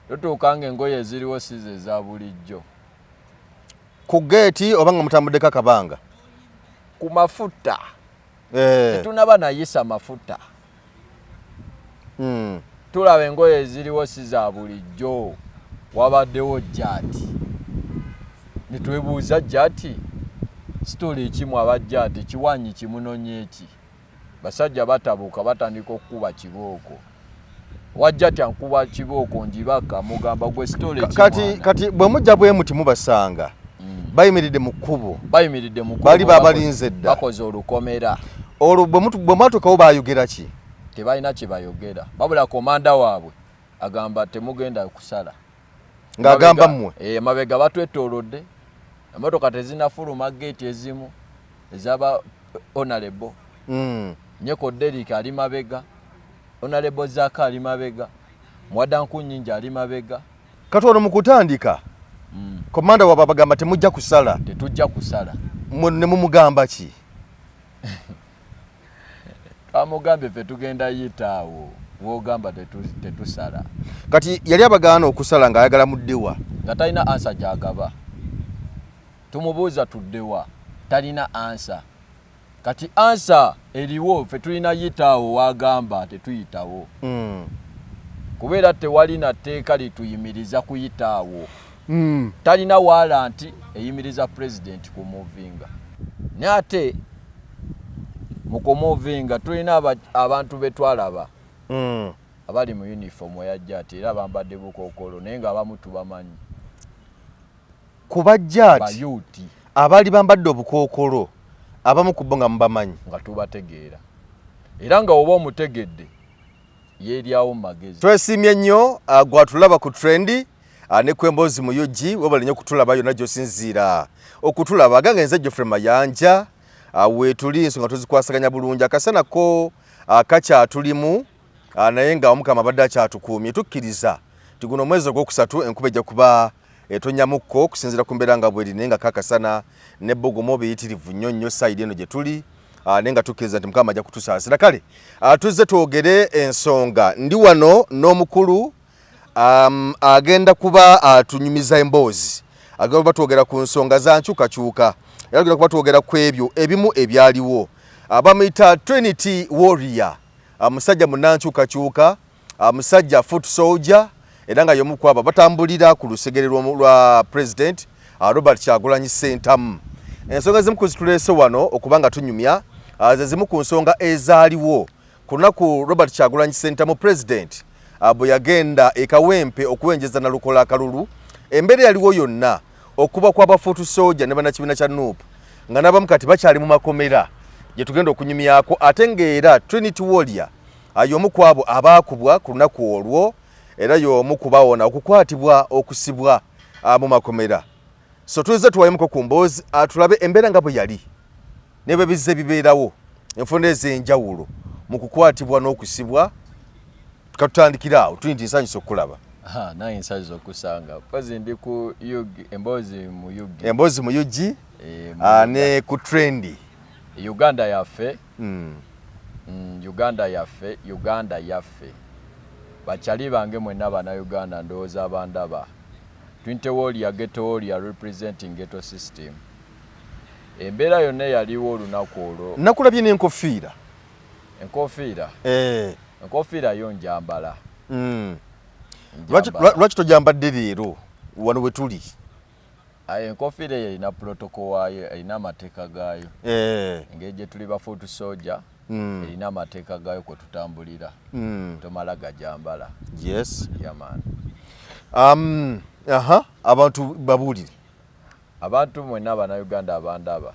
totuuka nga engoye eziriwo size eza bulijjo ku geeti oba nga mutambuddeko akabanga ku mafuta eh. tetunaba nayisa mafuta hmm. tulaba engoye eziriwo si za bulijjo wabaddewo jati netwebuuza jati sitole ekimu abajati kiwanyi kimunonyeeki basajja batabuka batandika okukuba kibooko wajja tya nkuba kibooko njibaka mugamba gwe story kati kati bwe mujja bwe muti mubasanga mm. bayimiridde mu kkubo bayimiridde mu kkubo bali babalinze dda bakoze olukomera olwo bwe mutu bwe mwatukawo bayogera ki tebalina kye bayogera babula komanda waabwe agamba temugenda kusala ng'agamba mmwe eh, emabega batwettoolodde emmotoka tezinafuluma geeti ezimu ezaba onalebo hmm. nyeko derik ali mabega onalebo zaka ali mabega mwadanku nyingi ali mabega kati ono mukutandika hmm. komanda waba bagamba temujja kusala tetujja kusala ne mumugamba ki twamugambye fe tugenda yita awo wogamba tetusala kati yali abagaana okusala nga ayagala muddewa nga talina ansa gyagaba tumubuuza tuddewa talina ansa kati ansa eriwo fe tulina yitaawo wagamba tetuyitawo mm. kubeera tewali na tteeka lituyimiriza kuyitaawo mm. talina walanti eyimiriza president ku movinga naye ate mukomovinga tulina abantu betwalaba mm. abali mu uniform eyajja ati era bambadde bukokolo naye nga abamu tubamanyi kubajja ati abali bambadde obukokolo abamu kubbo nga mubamanyi nga tubategeera era nga oba omutegedde yeeryawo mu magezi twesimye nnyo uh, gwatulaba ku trendi Ah, ne kwembozi mu ug webale nyo kutulaba yona gyosinziira okutulaba ganga enze geoffrey mayanja ah, wetuli ensonga tuzikwasaganya bulungi akasana ko ah, kakyatulimu naye nga omukama abadde akyatukuumye tukkiriza ti guno omwezi ogwokusatu enkuba ejja kuba etonyamukko okusinziira ku mbeera nga bweri naye nga kakasana ne bogomo biyitirivu nnyo nnyo sayidi eno gye tuli naye nga tukkiriza nti mukama ajja kutusaasira kale tuzze twogere ensonga ndi wano n'omukulu um, agenda kuba atunyumiza uh, emboozi agenda kuba twogera ku nsonga za nkyukakyuka era agenda kuba twogera ku ebyo ebimu ebyaliwo abamuyita uh, trinity warrior uh, musajja munankyukakyuka uh, musajja uh, foot soldier era nga yomu kwabo batambulira ku lusegere lwa president uh, robert kyagulanyi sentamu ensonga zimu kuzituleese wano okuba nga tunyumya uh, ze zimu ku nsonga ezaaliwo Ku lunaku Robert Kyagulanyi Ssentamu Pulezidenti ah, bwe yagenda e Kawempe okuwenjeza Nalukola akalulu, embeera eyaliwo yonna okuba kwa bafuutu sooja ne bannakibiina kya nup nga n'abamu kati bakyali mu makomera gye tugenda okunyumyako ate ng'era Trinity Warrior ah, y'omu ku abo abaakubwa ku lunaku olwo era y'omu ku bawona okukwatibwa okusibwa ah, mu makomera. So tuzze tuwayemuko ku mboozi tulabe embeera nga bwe yali. ne bwe bizze bibeerawo enfunda ez'enjawulo mu kukwatibwa n'okusibwa katutandikira awo tuli nti nsanyusa okukulaba naye nsanyusa okusanga kozi ndi ku ug emboozi mu ug emboozi mu ug eh, ah, ne ku trendi uganda yaffe hmm. mm, uganda yaffe uganda yaffe bakyali bange mwenna banauganda ndowooza abandaba twintewolia getowolia representing geto system Embeera yonna eyaliwo olunaku olwo. Nakulabye n'enkofiira. Enkofiira? Eh. Enkofiira yo njambala. Mm. Lwaki tojambadde leero wano we tuli? Aye enkofiira eyo erina protocol waayo, erina amateeka gaayo. Eh. Engeri gye tuli ba foot soldier. Mm. erina amateeka gaayo kwe tutambulira mm. tomala gajambala yes. yeah, man. Um, aha abantu babuulire Abantu mwenna Bannayuganda abandaba,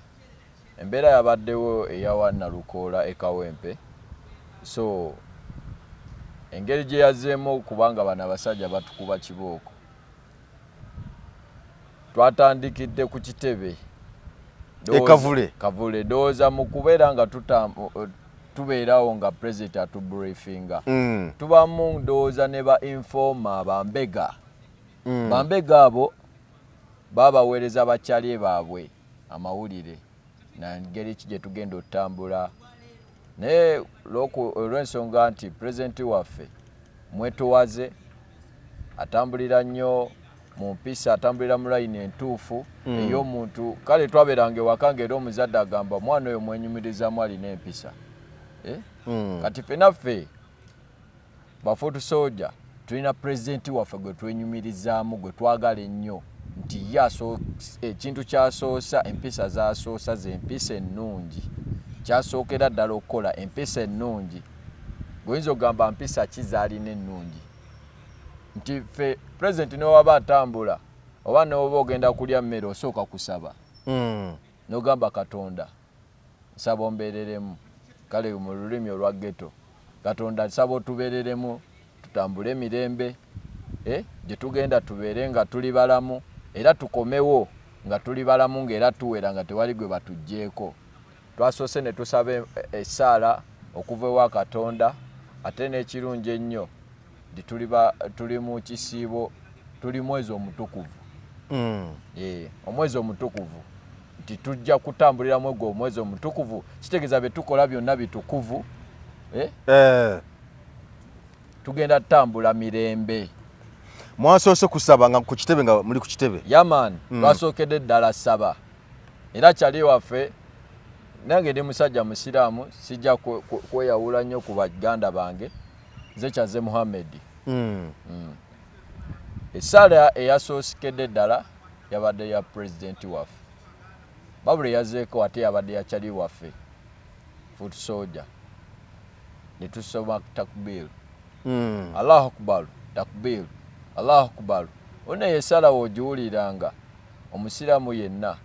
embeera yabaddewo eyawa Nalukoola e Kawempe so engeri gye yazzeemu okuba nga bano abasajja batukuba kibooko twatandikidde ku kitebe e Kavule Kavule ndowooza mu kubeera nga tubeerawo nga pulezidenti atubrifinga mm. tubamu ndowooza ne ba informa bambega mm. bambega abo babaweereza ba Chale baabwe amawulire na ngeri ki gye tugenda otutambula naye olw'ensonga nti pulezidenti waffe mwetowaze atambulira nnyo mu mpisa atambulira mu layini entuufu hmm. ey'omuntu kale twabeeranga ewaka nga era omuzadde agamba omwana oyo mwenyumirizamu alina empisa eh? hmm. kati fenaffe Ba foot soldier tulina president waffe gwe twenyumirizaamu gwe twagala ennyo nti ye ekintu kyasoosa empisa zasoosa ze empisa ennungi kyasookera ddala okukola empisa ennungi goyinza okugamba mpisa ki zaalina ennungi nti ffe president newaba atambula oba newoba ogenda kulya mmere osooka kusaba mm. nogamba katonda nsaba ombeereremu kale mu lulimi olwa ghetto katonda nsaba otubeereremu tutambule emirembe eh, gye tugenda tubeere nga tuli balamu era tukomewo nga tuli balamu nga era tuwera nga tewali gwe batuggyeko twasoose ne tusaba essaala okuva ewa katonda ate n'ekirungi ennyo nti tuli mu kisiibo tuli mwezi omutukuvu mm. eh, omwezi omutukuvu nti tujja kutambuliramu egwo omwezi omutukuvu kitegeeza byetukola byonna bitukuvu eh? Eh. tugenda tutambula mirembe mwasoose kusaba nga ku kitebe nga muli ku kitebe yaman mm. twasookedde ddala saba era kyali waffe nange ndi musajja musiraamu sijja kweyawula nnyo ku baganda bange nze kyaze muhamedi hmm. hmm. esaala eyasoosekedde ddala yabadde ya pulezidenti waffe babula eyazeeko ate yabadde yakyali waffe foot soldier ne tusoma takbiru hmm. allahu akbaru takbiru allahu akbaru ona yesala wogiwuliranga omusiraamu yenna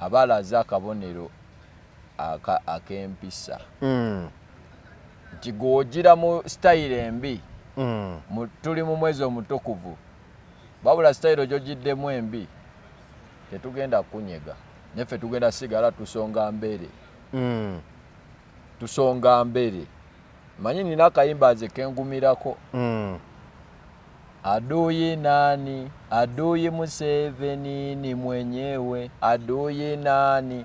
aba alaze akabonero ak'empisa hmm. nti gwojira mu sitayiro embi mm. tuli mu mwezi omutukuvu wabula sitayiro gyogiddemu embi tetugenda kunyega neffe tugenda sigala tusonga mbere mm. tusonga mbere manyi nina akayimba nze kengumirako mm. Adui nani? Adui Museveni ni mwenyewe. Adui nani?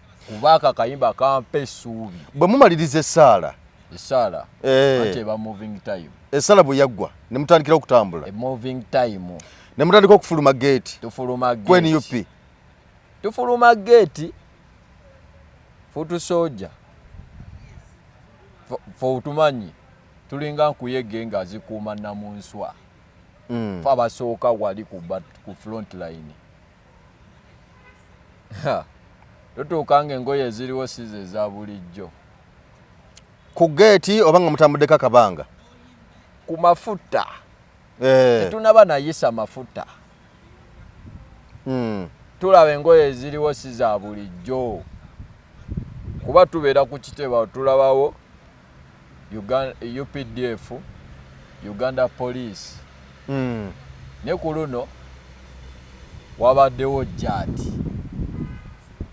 kuba ako akayimba kampa essuubi bwe mumaliriza essaala essaala eh. ate eba moving time essaala bwe yaggwa ne mutandikira okutambula e moving time ne mutandika okufuluma geeti tufuluma ku nup tufuluma geeti futu soja fe otumanyi tulinga nkuyege nga zikuuma namunswa mm. fe abasooka wali ku front line totuuka nga engoye eziriwo size eza bulijjo ku geeti oba nga mutambuddeko akabanga ku mafuta eh. tetunaba nayisa mafuta hmm. tulaba engoye eziriwo si za bulijjo kuba tubeera ku kitebao tulabawo updf uganda police mm. ne ku luno wabaddewo jati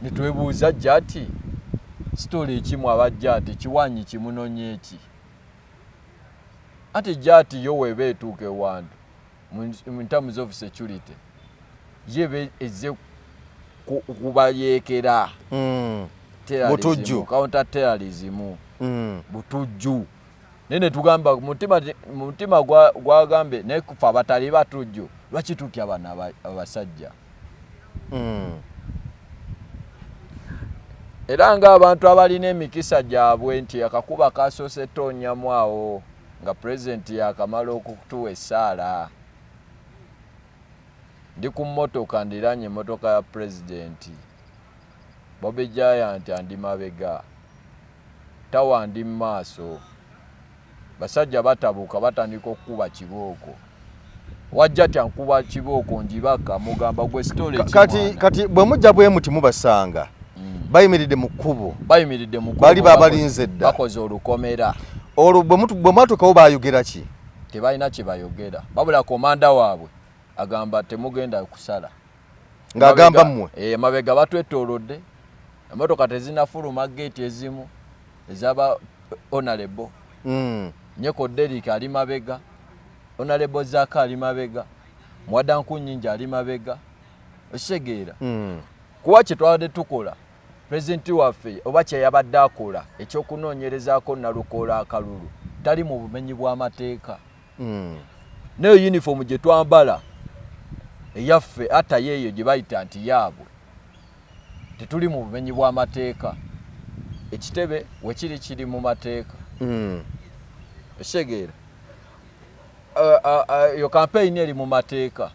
netwebuuza jati sitole ekimu aba jati kiwanyi kimunonye eki ati jati yo weba etuuka ewantu in terms of security yebe eze kubayekera mm. butujju counter terrorism mm. butujju nene tugamba mutima mutima gwagambe gwa nekufa batali batujju lwaki tutya bana abasajja hmm. era ng'abantu abalina emikisa gyabwe nti akakuba kasoose toonyamu awo nga pulezidenti yakamala okutuwa essaala ndi ku mmotoka ndiraanye emmotoka ya pulezidenti bobi giant andi mabega tawa ndi mu maaso basajja batabuka batandika okukuba kibooko wajja tya nkuba kibooko njibaka mugamba gwe story kati kati bwe mujja bwe muti mubasanga mm. bayimiridde mu kkubo bayimiridde mu kkubo bali babalinze dda bakoze olukomera olwo bwe mutu bwe mwatukawo bayogera ki tebalina kye bayogera babula komanda waabwe agamba temugenda kusala ng'agamba mmwe eh, emabega batwettoolodde emmotoka tezinafuluma geeti ezimu ezaba onalebo hmm. nyeko derik ali mabega onalebo zaka ali mabega mwadanku nyingi ali mabega okitegeera hmm. kuba kye twabadde tukola pulezidenti waffe oba kyeyabadde akola ekyokunoonyerezaako nalukoola akalulu tali mu bumenyi bw'amateeka mm. nayo uniform gye twambala eyaffe ata yeeyo gye bayita nti yaabwe tetuli mu bumenyi bw'amateeka ekitebe wekiri kiri mu mateeka hmm. ekitegeera eyo kampeyini eri mu mateeka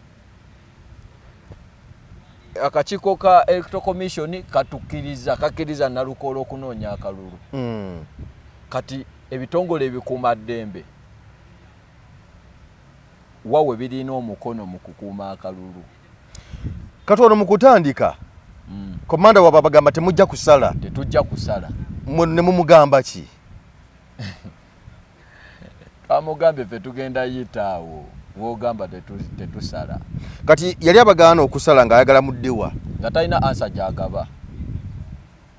akakiiko ka electro commission katukiriza kakiriza nalukoola okunoonya akalulu hmm. kati ebitongole ebikuuma ddembe wa we birina omukono mu kukuuma akalulu kati ono mu kutandika mm. komanda waba abagamba temujja kusala tetujja kusala ne mumugamba ki twamugambye fe tugenda yitaawo wogamba tetusala kati yali abagaana okusala ng'ayagala muddewa nga talina ansa gyagaba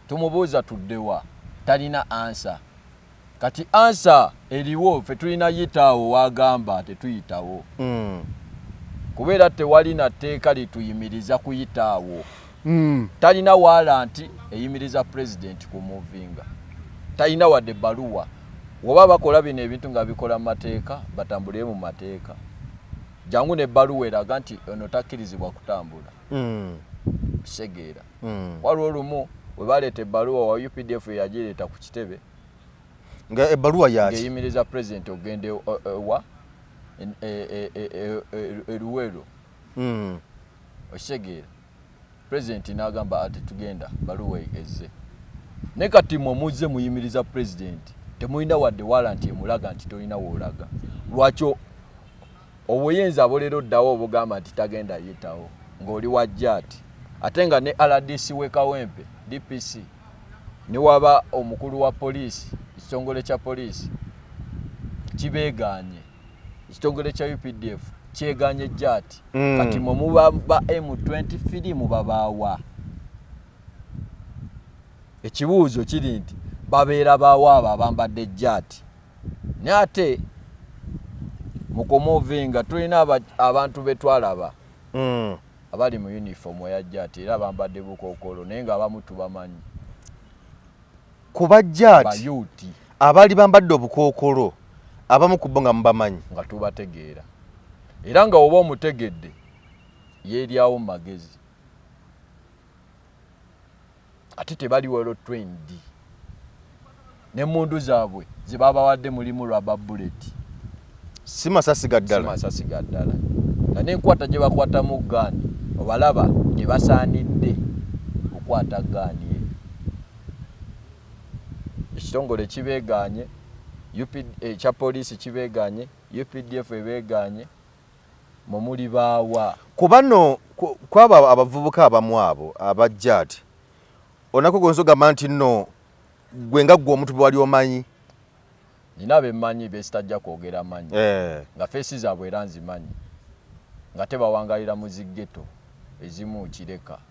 tumubuuza tuddewa talina ansa kati ansa eriwo fe tulina yitaawo wagamba tetuyitawo mm. kuba era tewali na tteeka lituyimiriza kuyitaawo mm. talina walanti eyimiriza pulezidenti ku muvinga talina wadde baluwa woba bakola bino ebintu nga bikola mu mateeka batambulire mu mateeka jangu ne baluwa eraga nti ono takkirizibwa kutambula mm. segeera mm. waliwo olumu webaleeta ebbaluwa wa updf eyagireeta ku kitebe nga ebbaluwa yaki eyimiriza president okugenda e, e, ewa eruweero e, mm. okitegeera president nagamba ati tugenda baluwa ezze naye kati mwe muzze muyimiriza president temulina wadde walanti emulaga nti tolina woolaga lwaki Obuyinza bulira oddawa obugamba nti tagenda yitawo ng'oli wa Jat ate nga ne RDC w'e Kawempe, DPC, ne waba omukulu wa poliisi ekitongole kya poliisi kibeegaanye ekitongole kya updf kyeganye jati mm. kati mwe muba ba m23 mubabaawa ekibuuzo kiri nti babeera baawo abo abambadde ejjaati naye ate mukomovinga tulina abantu betwalaba mm. abali mu uniform eya jjaati era bambadde bukookolo naye nga abamu tubamanyi kuba jjaati abaali bambadde obukookolo abamu ku bo nga mubamanyi nga tubategeera era nga oba omutegedde yeeryawo mu magezi ate tebali wero twendi nemundu zaabwe zebabawadde mulimu raba bullet si masasi gaddalamasasi gaddala nga nenkwata gye bakwatamu gaani obalaba tebasaanidde kukwata gaani eyo ekitongole kibeeganye ekya eh, poliisi kibeeganye updf ebeeganye mwe muli baawa? Ku bano kwabo abavubuka abamu abo abajja ati onako gonza ogamba nti nno gwe nga ggwe omuntu bwewali omanyi nina bemanyi besitajja kwogera manyi eh. nga feesi zaabwe era nzimanyi nga tebawangalira mu ziggeto ezimu kireka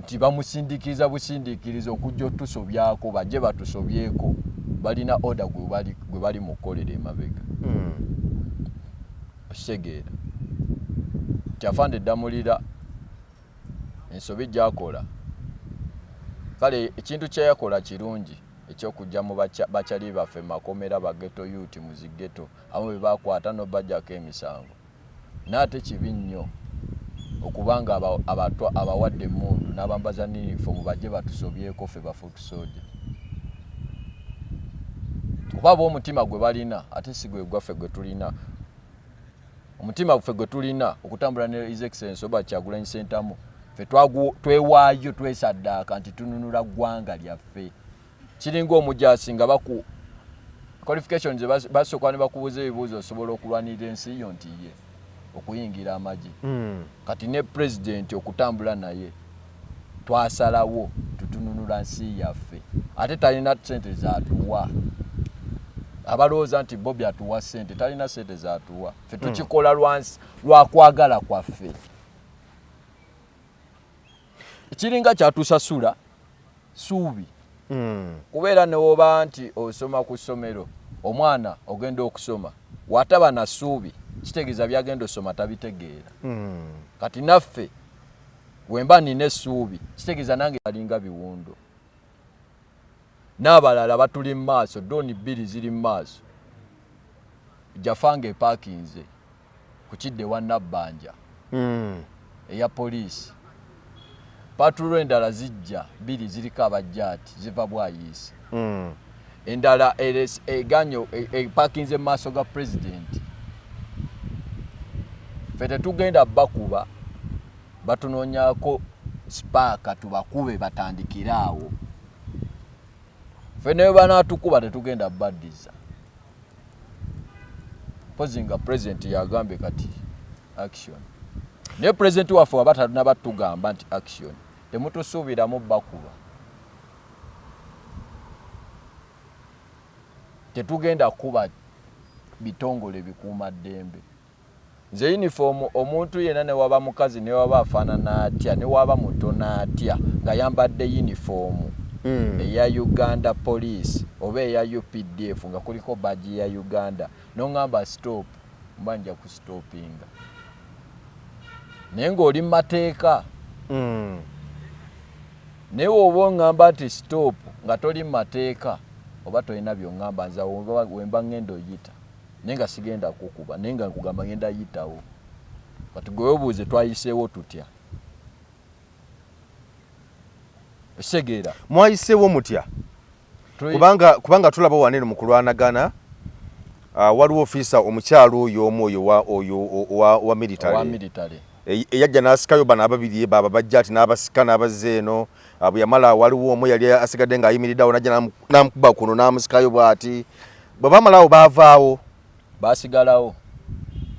nti bamusindiikiriza busindiikiriza okujja otusobyako bajje batusobyeko balina oda gwe bali mu kukolera emabega hmm. okitegeera nti afande eddamulira ensobi gyakola kale ekintu kyeyakola kirungi ekyokujja mu bakyali baffe makomera bageto yuti muzigeto abamu bebakwata nobajjako emisango naate kibi nnyo okuba nga abawadde emundu nabambaza niyunifoomu bajje batusobyeko ffe bafuutu soja kuba ba omutima gwe balina ate si gwe gwaffe gwe tulina omutima guffe gwe tulina okutambula ne his excellence oba kyagulanyi sentamu ffe twewaayo twesaddaaka nti tununula ggwanga lyaffe kiringa omujaasi nga baku qualifications basooka ne bakubuuza ebibuuzo osobola okulwanirira ensi yo nti ye okuyingira amagye hmm. kati ne pulezidenti okutambula naye twasalawo tutununula nsi yaffe ate talina sente zatuwa abalowooza nti bobi atuwa sente talina sente zatuwa fe hmm. tukikola lwakwagala kwaffe kiringa kyatusasula suubi hmm. kubeera newoba nti osoma ku ssomero omwana ogenda okusoma wataba na suubi kitegeeza byagenda osoma tabitegeera hmm. kati naffe wemba nina essuubi kitegeeza nange alinga biwundo n'abalala batuli mu maaso, dooni bbiri ziri mu maaso, Jafa ng'epakinze ku kidda ewa Nabbanja hmm. eya poliisi. Paatulo endala zijja bbiri ziriko abajjaati ziva bwayiisi. Hmm. Endala eganyo epakinze e, e, mu maaso ga pulezidenti. Ffe tetugenda bakuba. batunonyako sipaaka tubakube batandikire awo fe naye banatukuba tetugenda baddiza mpozi nga president yagambye kati action naye president waffe waba talina batugamba nti action temutusuubiramu bakuba tetugenda kuba bitongole bikuuma ddembe Nze uniform omuntu yena newaba mukazi newaba afanana atya newaba mutono atya ngayambadde uniform mm. eya Uganda police oba eya UPDF nga kuliko badge ya Uganda nongamba stop mba nja ku stoppinga naye ng'oli mu mateeka mm. naye woba oŋŋamba nti stop nga toli mu mateeka oba tolina byoŋŋamba nza wemba ŋŋenda oyita naye nga sigenda kukuba naye nga nkugamba ngenda yitawo kati gwewebuuze twayiseewo tutya esegeera mwayiseewo mutya kubanga kubanga tulaba wanene mu kulwanagana ah, waliwo ofiisa omukyalo oyo omu oyo oyo owa military eyajja n'asikayo bano ababiri baba bajja ati n'abasika n'abazza eno ah, bwe yamala waliwo omu yali asigadde ng'ayimiriddeawo najja n'amukuba kuno n'amusikayo bw'ati bwe bamalawo baavaawo baasigalawo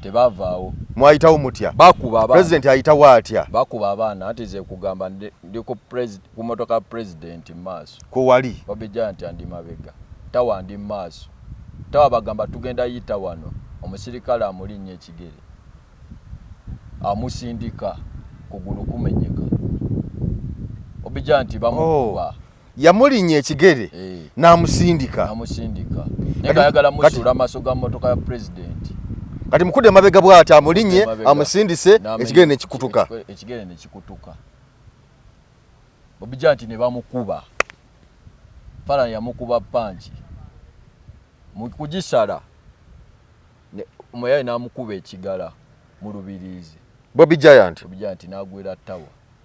tebavaawo mwayitawo mutya bakuba president ayitawo atya bakuba abaana anti ze kugamba ndi ku motoka president maaso ku wali obijja nti andi mabega tawa ndi maaso tawa bagamba tugenda yita wano omusirikale amulinnya ekigere amusindika kugulu kumenyeka obijja nti bamukuba oh. yamulinya ekigere eh. namusindika namusindika naye ayagala musula maso ga motoka ya president kati mukude mabega bwata amulinye amusindise ekigere ne kikutuka ekigere ne kikutuka obijanti ne bamukuba fala ya mukuba panchi mukujisala ne moyaye namukuba ekigala mu lubirizi bobi giant bobi giant nagwera tawa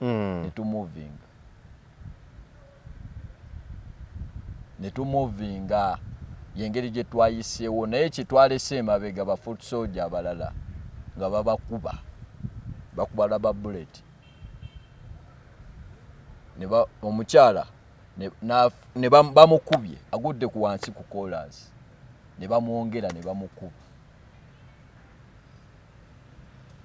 mm. netumuvinga netumuvinga yengeri gyetwayiseewo naye kyetwalese emabega ba foot soldier abalala nga babakuba bakuba laba bullet omukyala bamukubye agudde ku wansi ku kolansi ne bamwongera ne bamukuba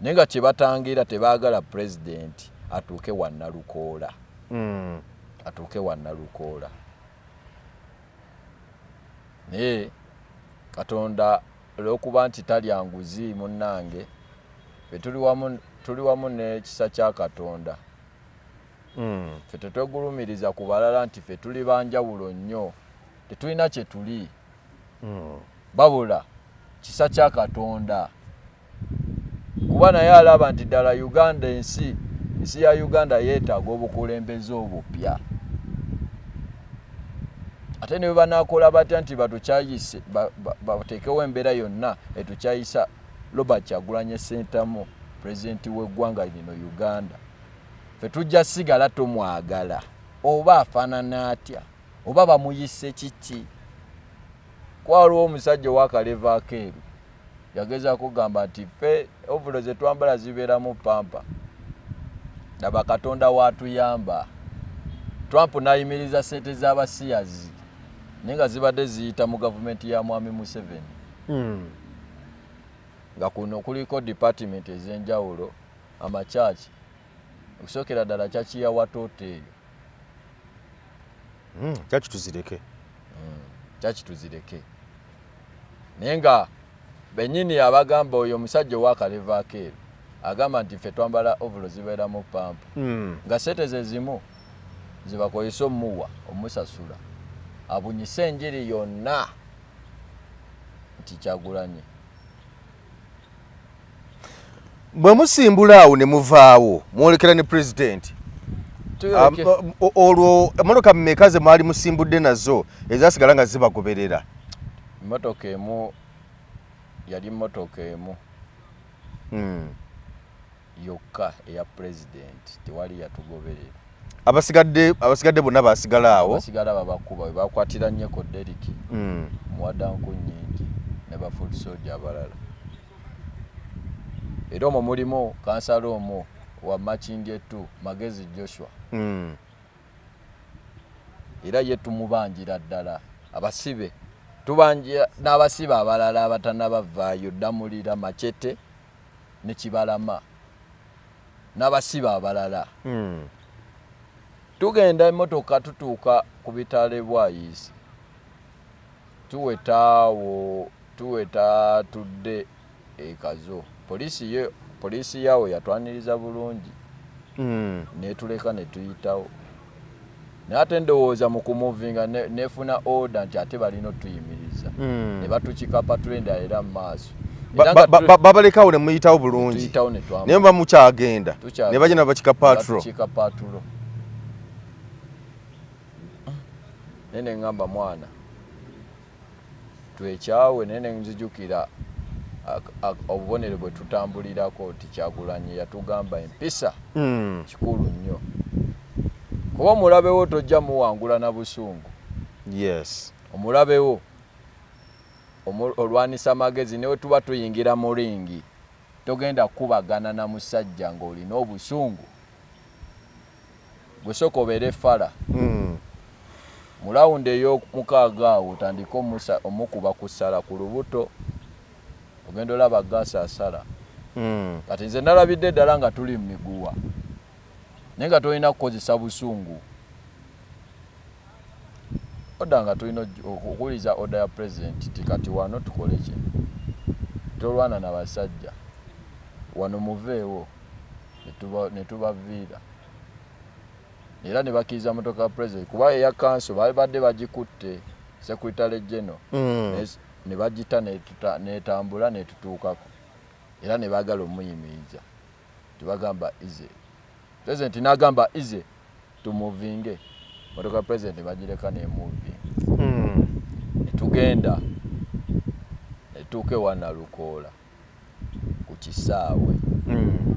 naye nga kyebatangira tebagala president atuuke wanalukoola mm. atuuke wanalukoola naye katonda olwokuba nti talya nguzi munnange fe tuli wamu nekisa kya katonda mm. fe tetwegulumiriza ku balala nti fe tuli banjawulo nnyo tetulina kyetuli hmm. babula kisa kya katonda kuba naye alaba nti ddala uganda ensi ensi ya uganda yeetaaga obukulembeze obupya ate ne bwebanakola batya nti batukyayise bateekewo embeera yonna etukyayisa robert kyagulanye sentamu pulezidenti w'eggwanga lino uganda fe tujja sigala tumwagala oba afaanana atya oba bamuyise kiki kwaliwo omusajja owakaleva akeeru yageza kugamba nti fe ovulo zetwambala zibeeramu pampa laba katonda watuyamba trump nayimiriza sente z'abasiyazi naye nga zibadde ziyita mu gavumenti ya mwami museveni hmm. nga kuno kuliko department ezenjawulo amakyaki okusookera ddala kyaki ya watoto eyo hmm, kyaki tuzireke hmm, kyaki tuzireke naye nga benyini abagamba oyo omusajja owakalevaako ero agamba nti ffe twambala ovulo zibeeramu pampu hmm. nga sente ze zimu zibakozesa omuwa omusasula abunyise enjiri yonna nti kyagulanye bwe musimbula awo ne muvaawo mwolekera ne pulezidenti olwo emotoka mumeka ze mwali musimbudde nazo ezasigala nga zibagoberera emotoka emu yali motoka emu hmm. yokka eya pulezidenti tewali yatugoberera abasigadde abasigadde bonna basigala awo basigala babakuba webakwatira nyeko deriki mm. muwadanku nyingi ne bafoot soja abalala era omwo mulimu kansala omwo wa makindi etu magezi joshua mm. era ye tumubanjira ddala abasibe tubanjira n'abasibe abalala abatanabavaayo ddamulira macete ne Kibalama n'abasibe abalala hmm. tugenda emmotoka tutuuka ku bitale bwayizi tuweta awo tuweta tudde ekazo poliisi ye poliisi yaawo yatwaniriza bulungi hmm. netuleka netuyitawo naye ate ndowooza mu kumuvinga nefuna order nti ate balina otuyimiriza hmm. ne batukikapa tulenda era mu maaso babalekawo ne muyitawo bulungi naye muba mukyagenda ne bagenda bakika patro naye ne ŋŋamba mwana twekyawe naye nenzijukira obubonero bwetutambulirako nti kyagulanyi yatugamba empisa hmm. kikulu nnyo kuba omulabewo tojja muwangula na busungu yes omulabewo olwanisa amagezi newe tuba tuyingira mu ringi togenda kukubagana na musajja ng'olina obusungu gwe sooka obeere fala mm. mu lawundi ey'omukaaga awo otandike omukuba ku ssala ku lubuto ogenda olaba gaasi asala mm. kati nze nalabidde ddala nga tuli mu miguwa naye nga tolina kukozesa busungu oda nga tulina okuwuliza oda ya pulezidenti ti kati wano tukole ki tolwana na basajja wano muveewo ne tubaviira era ne bakkiriza motoka ya president kuba eya kanso babadde bagikutte secretary general mm. ne bagita netambula netutuukako era ne baagala omuyimiriza tebagamba ize president n'agamba ize tumuvinge motoka president bagireka nemuvi mm. netugenda netuuka ewanalukoola ku kisaawe mm.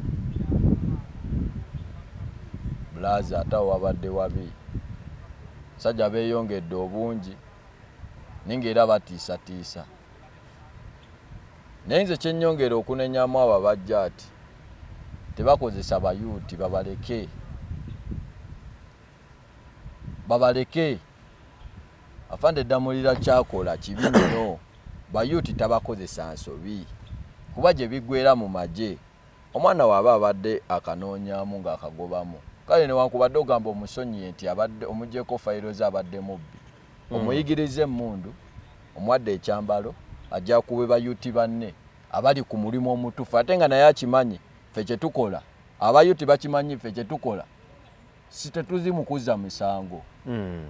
bulazi ate awo wabadde wabi sajja beeyongedde obungi naye ngaera batiisatiisa naye nze kyenyongera okunenyamu abo abajja ati tebakozesa bayuuti babaleke babaleke Afande Ddamulira ky'akola kibi nnyo. Bayuuti tabakozesa nsobi kuba gye biggweera mu magye omwana we aba abadde akanoonyaamu ng'akagobamu. Kale newankubadde ogamba omusonyiye nti abadde omuggyeeko fayiro ze abadde mubbi, omuyigirizza emmundu, omuwadde ekyambalo, agyakube bayuuti banne abali ku mulimu omutuufu ate nga naye akimanyi ffe kye tukola. Abayuuti bakimanyi ffe kye tukola. si tetuzi mu kuzza misango hmm.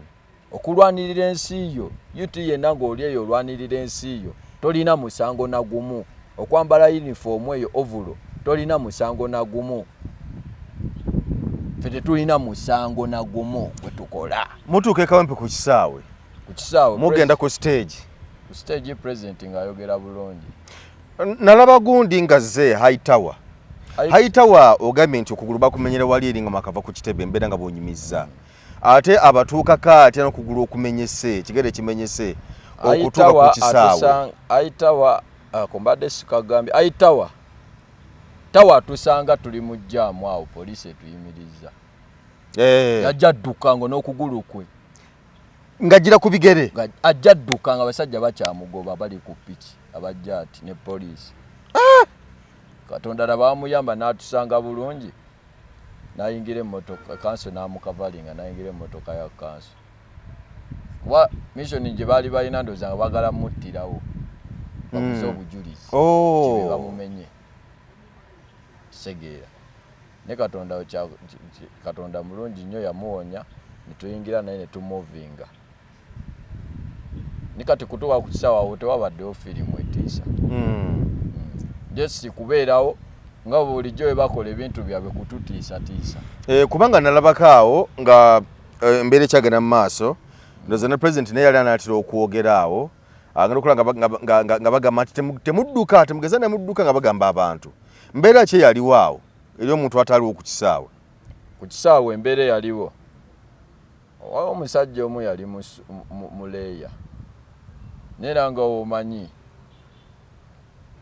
okulwanirira ensi yo ut yenna ng'oli eyo olwanirira ensi yo tolina musango na gumu okwambala yunifoomu eyo ovulo tolina musango na gumu fe tetulina musango na gumu gwe tukola mutuuka ekawempe ku kisaawe ku kisaawe mugenda ku stage ku stage president ng'ayogera bulungi nalaba gundi nga zze high tower high tower ogambye nti okugulu bakumenyera wali eri nga makava ku kitebe mbeera nga bwonyumizza ate abatuukako atya nokugulu okumenyese kigere kimenyese okutuuka ku kisaawe high tower uh, kumbadde sikagambye high tower tawa atusanga tuli mu jaamu awo poliisi etuyimirizza eh. yajja dduka ngo n'okugulu kwe ngajira ku bigere ajja dduka nga basajja bakyamugoba bali ku piki abajja ati ne poliisi ah! katonda labamuyamba n'atusanga bulungi nayingira emotoka kanso namukavalinga nayingira emotoka ya kanso kuba missioni gye baali balina ndoza nga bagala muttirawo bakuze hmm. obujulizi oh. bamumenye segeera naye katonda katonda mulungi nnyo yamuwonya netuyingira naye netumuvinga ni kati kutuwa ku kisaawa awo tewabaddewo firimu etiisa hmm. jesi kubeerawo nga bulijjo bwe bakola ebintu byabwe kututiisatiisa eh, kubanga nalabako awo nga eh, embeera ekyagenda mu maaso ndoza ne president naye yali anaatera okwogera awo agenda okola nga bagamba nti temudduka temugeza nemudduka nga bagamba abantu mbeera ki eyaliwo awo eri omuntu ataliwo ku kisaawe ku kisaawe embeera eyaliwo waliwo omusajja omu yali muleeya neera nga omanyi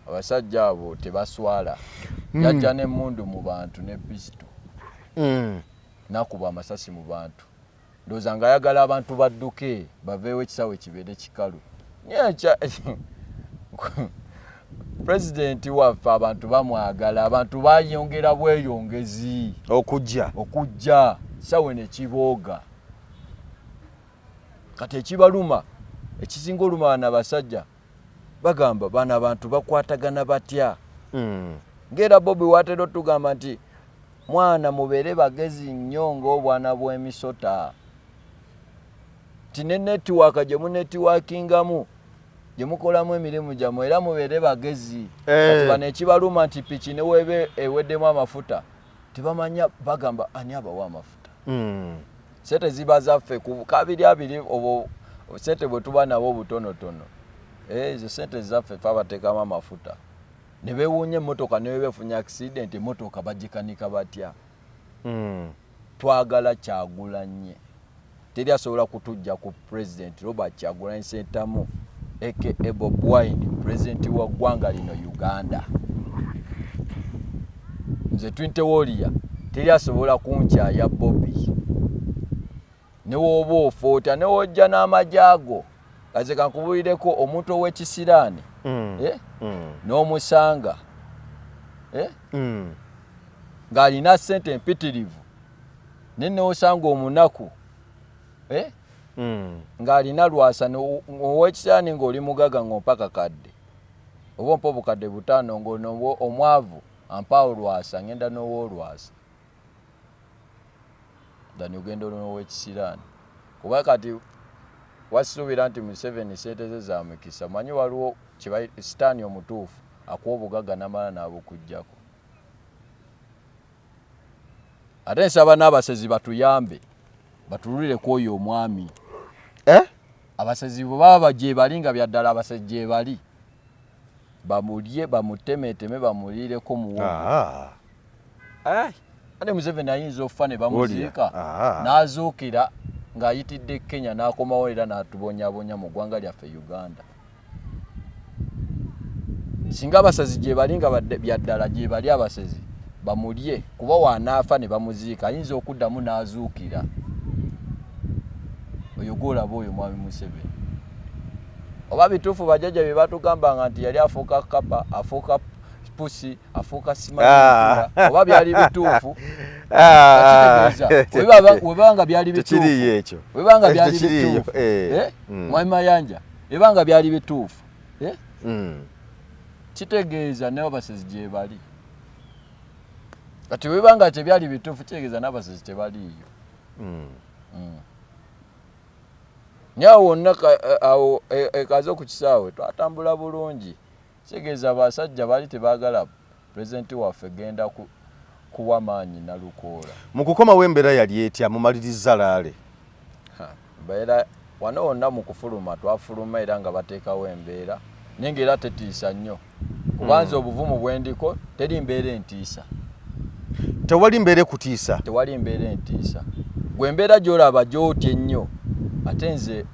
abasajja abo tebaswala hmm. yajja n'emmundu mu bantu ne pisito hmm. nakuba amasasi mu bantu ndoza nga ayagala abantu badduke baveewo ekisawe kibeere kikalu pulezidenti waffe abantu bamwagala abantu bayongera bweyongezi okujja okujja sawe nekibooga kati ekibaluma ekisinga oluma wana basajja bagamba bano abantu bakwatagana batya hmm. ngaera bobi watera otugamba nti mwana mubeere bagezi nnyo ngaobwana bwemisota nti ne netiwaaka gye munetiwakingamu gye mukolamu emirimu gyamu era mubeere bagezi eh. bano ekibaluma nti piki neweebe eweddemu amafuta tebamanya bagamba ani abawa amafuta hmm. sente ziba zaffe kabiri abiri obwo sente bwe tuba nabo obutonotono eh, ezo sente zaffe fe abateekamu amafuta ne bewuunya emmotoka ne bebefunya accident emmotoka bagikanika batya hmm. twagala kyagulanye teri asobola kutujja ku president robert kyagulanyi sentamu aka bob wine president wa ggwanga lino uganda nze twintewoliya teri asobola kunkyaya bobi newooba ofoota newojja n'amagye ago kaze kankubulireko omuntu ow'ekisiraani mm. eh? mm. n'omusanga eh? mm. ng'alina ssente empitirivu ne newosanga omunaku eh? mm. ng'alina lwasa owekisaani ng'oli mugaga ng'ompa kakadde oba ompa obukadde butaano ng'ono omwavu ampaawo lwasa ng'enda n'owolwasa dani ogenda olon'owekisiraani kuba kati wasisuubira nti museveni sente ze za mikisa manyi waliwo sitaani omutuufu akuwa obugagga namala n'abukujjako ate nsaba n'abasezi batuyambe batululire ku oyo omwami eh? abasezi bwe baba gyebali nga byaddala abasezi gyebali bamulye bamutemeteme bamuliireko muwogo ah. eh? ate museveni ayinza okufa ne bamuziika ah. n'azuukira ng'ayitidde kenya n'akomawo era n'atubonyabonya mu ggwanga lyaffe uganda singa abasazi gyebali nga byaddala gyebali abasezi bamulye kuba wanaafa ne bamuziika ayinza okuddamu n'azuukira oyo gwolaba oyo mwami museveni oba bituufu bajajja bye batugambanga nti yali afuuka kapa afuuka pusi afuuka simaa ah. oba byali bituufu ah. webanga byali bituufu webanga byali bituufu eh. Eh? Hmm. mwami mayanja ebanga byali bituufu eh? mm. kitegeeza nabasezi gyebali kati webanga tebyali bituufu kitegeeza nabasezi tebaliiyo mm. mm. nyawo wonna awo ekaze e, e, okukisaawe twatambula bulungi Kitegeeza abasajja baali tebagala president waffe genda ku, kuwa maanyi nalukoola. Mu kukomawo embeera yali etya mumaliriza laale? Mbeera wano wonna mu kufuluma twafuluma era nga bateekawo embeera naye nga era tetiisa nnyo kuba nze hmm. obuvumu bwendiko teri mbeera entiisa. Tewali mbeera ekutiisa? Tewali mbeera entiisa. Gwe mbeera gy'olaba gy'otya ennyo ate nze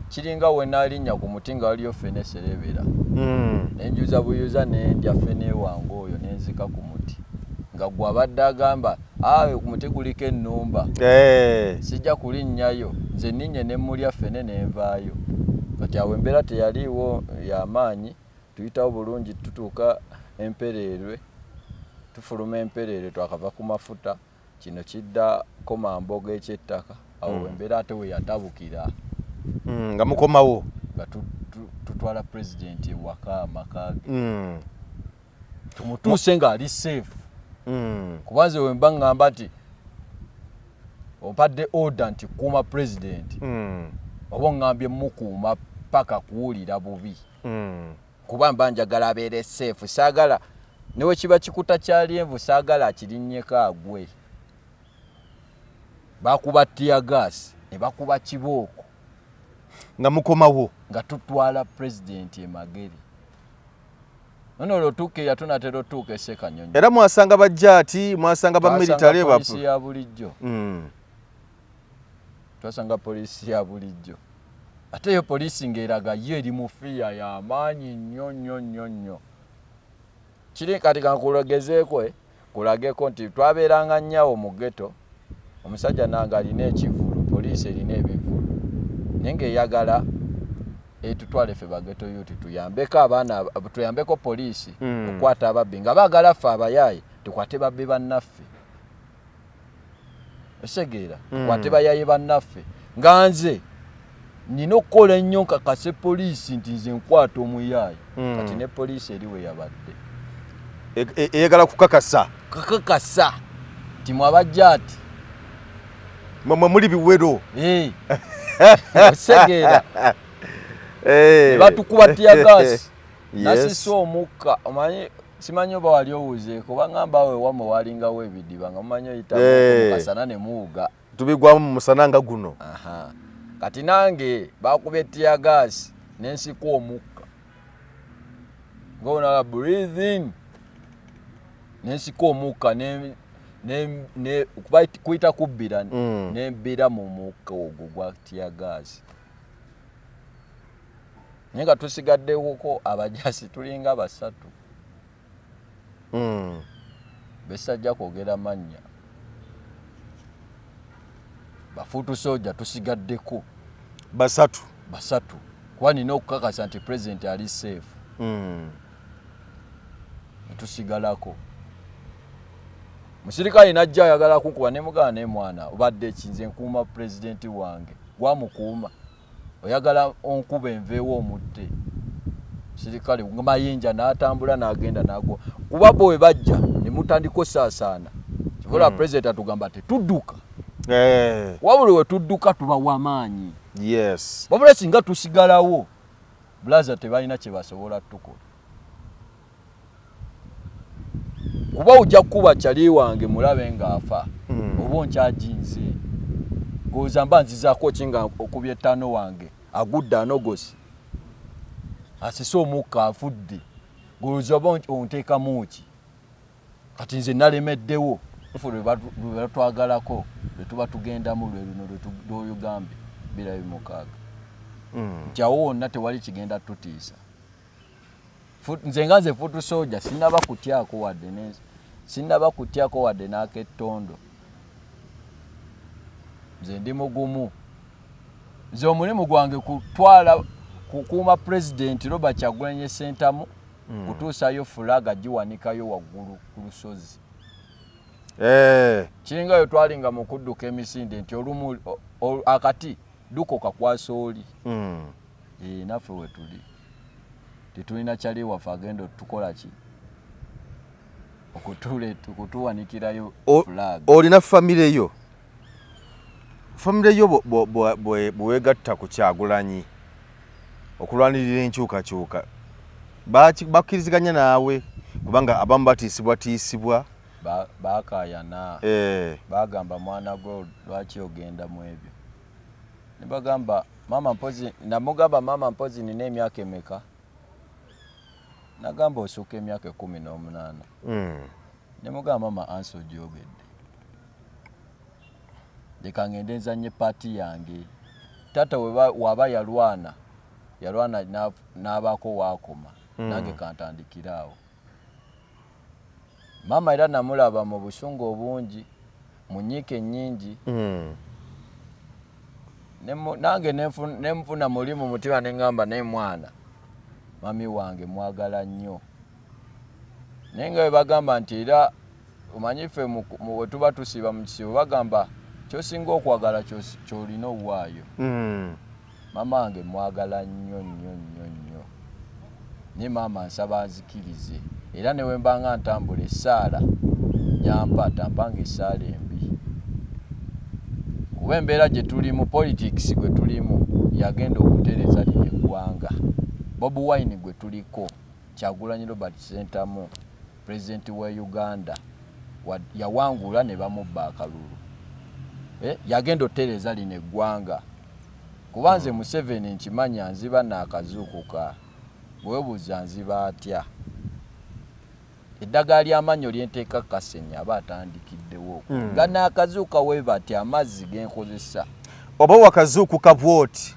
kiringa wenalinnya ku muti nga waliyo fene eserebera hmm. nenjuza buyuza nendya fene wange oyo nenzika ku muti nga gwe abadde agamba awe ku muti guliko ennumba eh. sijja kulinnyayo nze ninnye nemulya fene nenvaayo kati awo embeera teyaliiwo yamaanyi tuyitawo bulungi tutuuka empereerwe tufuluma empereerwe twakava ku mafuta kino kidda komamboga ekyettaka awo hmm. embeera ate weyatabukira hmm, nga mukomawo nga tutwala president ewaka amakage hmm. tumutuuse nga ali safe kuba nze wemba ngamba nti ompadde order nti kuuma president oba ongambye mukuuma paka kuwulira bubi kuba mba njagala abeere seefu saagala newekiba kikuta kya lyenvu saagala akirinnyeko agwe bakuba tiagaasi ne bakuba kibooko nga mukomawo nga tutwala pulezidenti emagere nono olwotuuka eya tunatera otuuka esekanyonyi era mwasanga bajjaati mwasanga bamiritale ya bulijjo mm. twasanga poliisi ya bulijjo ate eyo poliisi ng'eraga yo eri mu fiya y'amaanyi nnyo nnyo nnyo nnyo kiri kati kankulagezeeko eh, kulageko nti twabeeranga nnyawo mu geto omusajja nange alina ekivulu poliisi erina ebivulu naye ng'eyagala etutwale ffe bageto yuti tuyambeko abaana tuyambeko poliisi hmm. okukwata ababbi nga baagala ffe abayaaye tukwate babbi bannaffe osegeera mm. kwate bayaye bannaffe nga nze nina okukola ennyo nkakase poliisi nti nze nkwata omuyaayi mm. kati ne poliisi eri we yabadde e, e, eyagala kukakasa kakakasa ti mwabajja ati mwemwe muli biwero eh. osegeera eh. batukuba tiyagasi nasisa omukka omanyi simanyi oba wali owuzeeko bangamba awo ewamwe walingawo ebidiba nga mumanyi oyitamukasana eh. ne muwuga tubigwamu mu musana nga guno kati nange bakuba etiyagaasi nensiku omukka ngaonala breathing nensiku omukka kuyita kubbira mm. nebbira mu mukka ogwo gwa tiyagaasi naye nga tusigaddewoko abajasi tulinga basatu mm. besajja kwogera mannya bafuutu soja tusigaddeko basatu basatu kuba nina okukakasa nti president ali safe mm. netusigalako musirikale najja ayagala kukuba nemugana nemwana obadde ekinze nkuuma pulezidenti wange gwamukuuma oyagala onkube nveewo omutte sirikale mayinja n'atambula n'agenda n'agwa kuba bo we bajja ne mutandika osaasaana kibula mm. president atugamba tetudduka eh. wabuli we tudduka tuba wamaanyi yes wabula singa tusigalawo bulaza tebalina kye basobola tukola kuba ojja kukuba cali wange mulabe ng'afa hmm. oba onkyajinze goza mba nzizaako ki nga okuba ettaano wange agudde anogosi asise omukka afudde goza oba onteekamu ki kati nze nalemeddewo fe lwebatwagalako lwetuba tugendamu lweluno lwetuyogambye birayo mukaaga hmm. njawo wonna tewali kigenda tutiisa nze nga nze futu soja sinaba kutyako wadde nensi sinaba kutyako wadde n'akettondo nze ndi mugumu nze omulimu gwange kutwala kukuuma pulezidenti robert kyagulanye sentamu mm. kutuusayo fulaga giwanikayo waggulu ku lusozi eh. kiringa yo twalinga mu kudduka emisinde nti olumu akati duko kakwasa oli mm. Eeh naffe wetuli tetulina cali waffe agenda otukola ki okutule okutuwanikirayo flag. Olina family yo family yo bwewegatta ku kyagulanyi okulwanirira enkyukakyuka bakkiriziganya naawe kubanga abamu batiisibwatiisibwa bakayana eh. bagamba mwana gwe lwaki ogenda mu ebyo nebagamba mama mpozi namugamba mama mpozi nina emyaka emeka nagamba osuka emyaka ekumi nomunana mm. nemugamba mama ansi ojogedde leka ngende nzanye paati yange tata waba yalwana yalwana nabako wakoma mm. nange kantandikiraawo maama era namulaba mu busungu obungi mu nyiika ennyingi hmm. nange nenfuna muli mu mutima nengamba naye mwana mami wange mwagala nnyo naye nga webagamba nti era omanyi ffe wetuba tusiiba mu kisibo bagamba kyosinga okwagala kyolina owaayo hmm. Mama wange mwagala nnyo nnyo nnyo nnyo naye maama nsaba anzikirize era ne wembanga ntambula essaala gyampa tampanga essaala embi kuba embeera gye tulimu politics gwe tulimu yagenda okutereza lino eggwanga bob wine gwe tuliko kyagulanyi robert sentamu president wa uganda yawangula ne bamubba akalulu eh, yagenda otereeza lino eggwanga kuba nze hmm. museveni nkimanya nziba naakazuukuka bwebuuza nziba atya eddagala ly'amannyo lyenteeka kasenya aba atandikiddewo hmm. nga naakazuuka webatya amazzi genkozesa oba wakazuukuka bwoti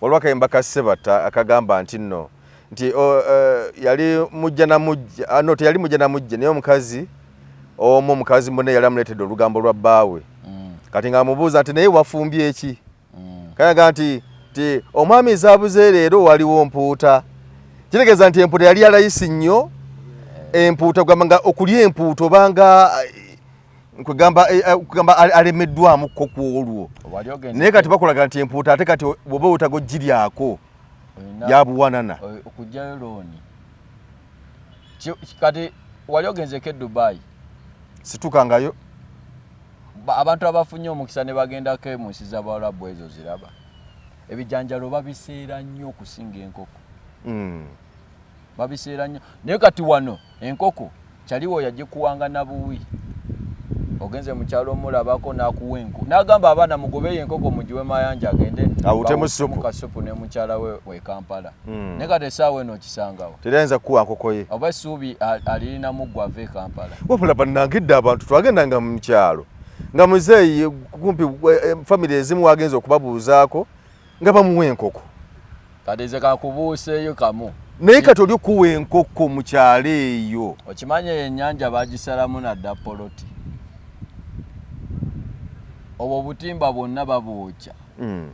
waliwo akayimba ka sebatta akagamba nti nno nti oh, eh, yali mujja namujja ah, no teyali mujja namujja naye omukazi omu omukazi mune yali amuleetedde olugambo lwa bbaawe mm. kati nga amubuuza nti naye wafumbye eki mm. kayaga nti ti omwami ezabuze leero waliwo mpuuta kitegeeza nti empuuta yali yalayisi nnyo eh. empuuta gwamanga okulya empuuta obanga kwegamba eh, eh, kwegamba alemeddwamu ko kwolwo naye kati bakulaga nti empuuta ate kati bwoba wetaga ogiryako yabuwanana okugyayo looni kati wali ogenzeko e dubai situkangayo abantu abafunye omukisa ne bagendako mu nsi zabawalabu ezo ziraba ebijanjalo babiseera nnyo okusinga enkoko mm. babiseera nnyo naye kati wano enkoko kyaliwo yagikuwanga nabuwi ogenze mukyalo omulabako nakuwa enku nagamba abaana mugobeyo enkoko mugiwe mayanja agende awutemukasupu ne mukyala we wekampala hmm. naye kati esaawa eno okisangawo terayinza kukuwa nkokoye oba esuubi alirinamu gwa ava ekampala wabula banange dda abantu twagendanga mu mukyalo nga muzeeyi kumpi eh, eh, famiry ezimu wagenza okubabuuzaako nga bamuwa enkoko kadeze kakubuuseeyo kamu naye kati oli okuwa enkoko mu kyalo eyo okimanyi eyo ennyanja bagisalamu nadda poloti obwo obutimba bwonna babwokya hmm.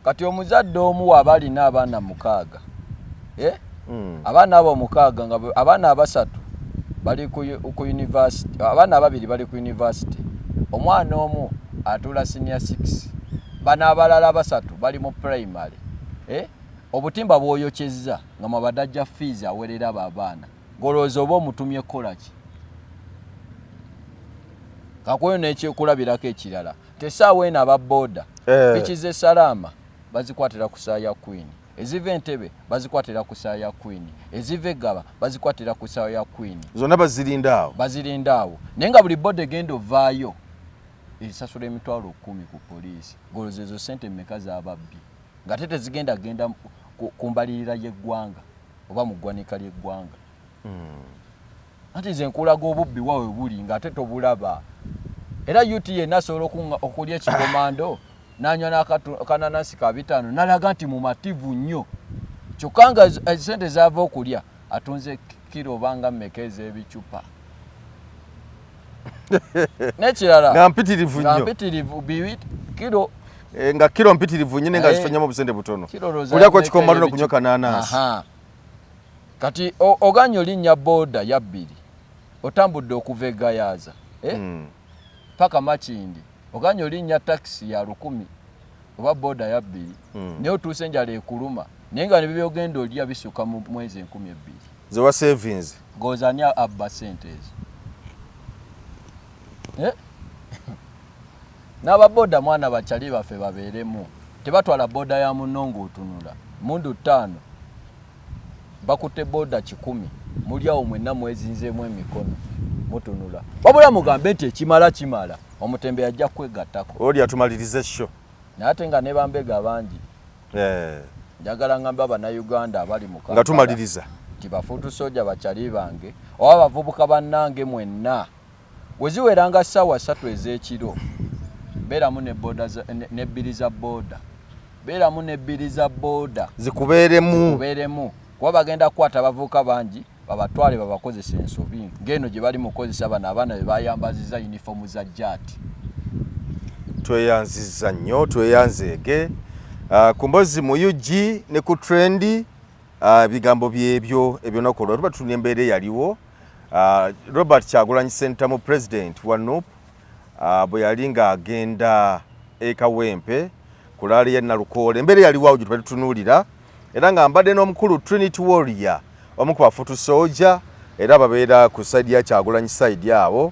kati omuzadde omu waba alina abaana mukaaga eh? mm. abaana abo omukaaga nga abaana abasatu bali ku university abaana ababiri bali ku university omwana omu atuula senior six bano abalala basatu bali mu primary eh? obutimba bwoyokyezza nga mwabadajja fees awerera abo abaana golowooza oba omutumye kukolaki kakweyo nekyekulabirako ekirala tesaawa eno aba boda eh. pikize salaama bazikwatira ku saa ya kwini eziva entebe bazikwatira ku ssaawa ya kwini eziva eggaba bazikwatira ku ssaawa ya kwini zonna bazirinda awo bazirinda awo naye nga buli boda egenda ovaayo erisasula emitwalo kumi ku poliisi goloza ezo sente meka zababbi nga te tezigenda genda ku mbalirira y'eggwanga oba mu ggwanika ly'eggwanga hmm. anti nze nkulaga obubbi wa we buli ng'ate tobulaba era ut yenna asobola okulya ekikomando n'anywa n'akananasi ka bitaano nalaga nti mumativu nnyo kyokka nga sente zaava okulya atunze kiro obanga mmeka ez'ebicupa n'ekirala nga mpitirivu nnyo nga mpitirivu biwit kiro Eh, nga kilo mpitirivu nyine nga eh, zifanyamo busente butono kulya kwa kikomaliro kunyoka nanasi kati oganye olinnya booda yabbiri otambudde okuva egayaaza eh? hmm. paka makindi oganye olinnya takisi ya lukumi oba booda yabbiri hmm. naye otuuse enjala ekuluma naye nga nebyogenda olya bisuka mu mwezi enkumi ebbiri zewa savings gozani abba sente ezo eh? N'aba boda mwana ba chali baffe babeeremu tebatwala boda ya munno ng'otunula mundu ttaano bakutte boda kikumi muli awo mwenna mwezinzeemu emikono mutunula wabula mugambe nti ekimala kimala omutembe yajja kwegattako oli atumaliriza ekyo naye ate nga ne bambega bangi eh. njagala ngamba abanauganda abali mu nga tumaliriza nti bafuutu soja bakyali bange oba bavubuka bannange mwenna Bwe ziwera nga ssaawa ssatu ez'ekiro, beeramu ne boda ne bbiri za boda beeramu ne bbiri za boda zikubeeremu zikubeeremu kuba bagenda kukwata abavubuka bangi babatwale babakozesa ensobi ng'eno gye bali mukozesa bano abaana be bayambaziza yunifoomu za jaati tweyanziza nnyo tweyanzeege ah, ku mbozi mu ug ne ku trendi Ah, ebigambo byebyo ebyonaku olwo tuba tutunya embeera eyaliwo ah, robert kyagulanyi sentamu president wa nup ah, bwe yali ng'agenda ekawempe ku laali ya nalukoola embeera eyaliwo awo gye tuba tutunuulira era nga mbadde n'omukulu trinity warrior omu ku bafutu soja era babeera ku saidi ya kyagulanyi saidi awo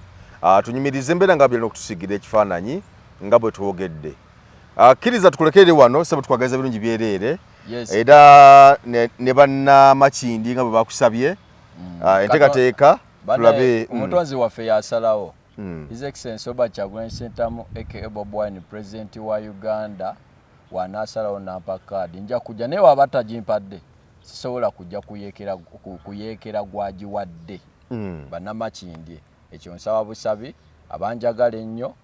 tunyumiriza embeera nga byalina okutusigira ekifaananyi nga bwe twogedde akkiriza tukulekerere wano sebwe twagaliza birungi byereere yes. era ne, ne banna makindi nga bwe bakusabye mm. uh, ah, entekateeka tulabe mm. omutonzi mm. waffe yasalawo mm. his excellence oba kyagulanyi sentamu aka bob wine president wa uganda wanasalawo nampa kaadi nja kujja naye waba tagimpadde sisobola kujja kuyekera kuyekera gwagiwadde mm. banamakindye ekyo nsaba busabi abanjagala ennyo